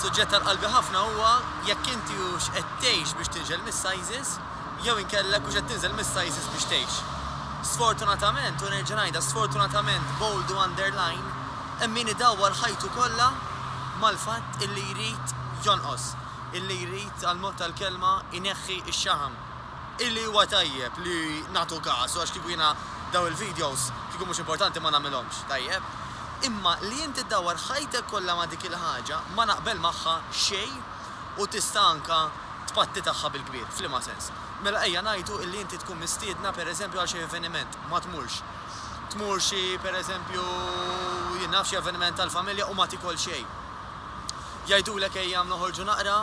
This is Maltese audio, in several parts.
Suġġett għal qalbi ħafna huwa jekk inti hux qed tgħix biex tinżel mis-sizes jew inkella jekk hux qed tinżel mis-sizes biex tgħix. Sfortunatament, u nerġa' ngħidha, sfortunatament, bold u underline, hemm min idawwar ħajtu kollha mal-fatt illi jrid jonqos, illi jrid, għall-mod tal-kelma, ineħħi x-xaħam. Illi huwa tajjeb li nagħtu kasu għax kieku jiena dawn il-videos kieku mhux importanti ma nagħmilhomx, tajjeb. Imma li inti ddawwar ħajtek kollha ma' dik il-ħaġa ma naqbel magħha xejn u tista' anke tpatti tagħha bil-kbir. F'liema sens? Mela ejja ngħidu illi inti tkun mistiedna pereżempju għal xi avveniment, ma tmurx. Tmur xi pereżempju jien naf xi avveniment tal-familja u ma tikol xejn. Jgħidulek ejja noħorġu naqra,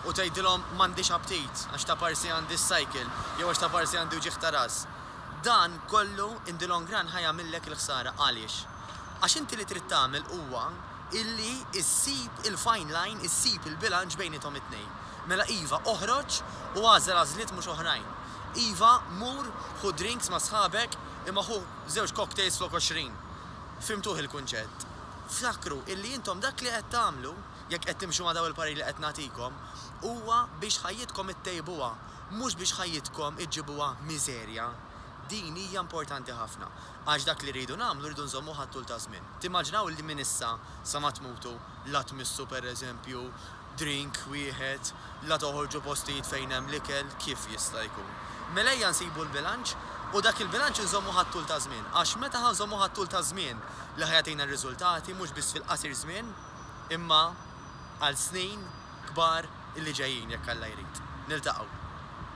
u tgħidilhom m'għandix aptit għax ta' parsi għandi s-cycle jew għax ta' parsi għandi wġigħ ta' ras. Dan kollu in the long run ħa jagħmillek il-ħsara. Għaliex? Għax inti li trid tagħmel huwa illi issib il-fine line, issib il-bilanċ bejniethom it-tnejn. Mela iva, oħroġ u agħżel għażliet mhux oħrajn. Iva, mur ħu drinks ma' sħabek imma ħu żewġ cocktails flok għoxrin. Fhimtuh il-kunċett? Ftakru illi intom dak li qed tagħmlu jekk qed timxu ma' dawn il-pariri li qed nagħtikom, huwa biex ħajjitkom ittejbuha, mhux biex ħajjitkom iġġibuha miżerja. Din hija importanti ħafna, għax dak li rridu nagħmlu rridu nżommuh għat-tul taż-żmien. Timmaġinaw li minn issa sa ma tmutu la tmissu pereżempju drink wieħed, la toħorġu postijiet fejn hemm l-ikel, kif jista' jkun? Mela ejja nsibu l-bilanċ u dak il-bilanċ inżommuh għat-tul taż-żmien, għax meta ħa nżommuh għat-tul taż-żmien li ħa jagħtina r-riżultati, mhux biss fil-qasir żmien. imma għal snin kbar illi ġejjin jekk Alla jrid. Niltaqgħu.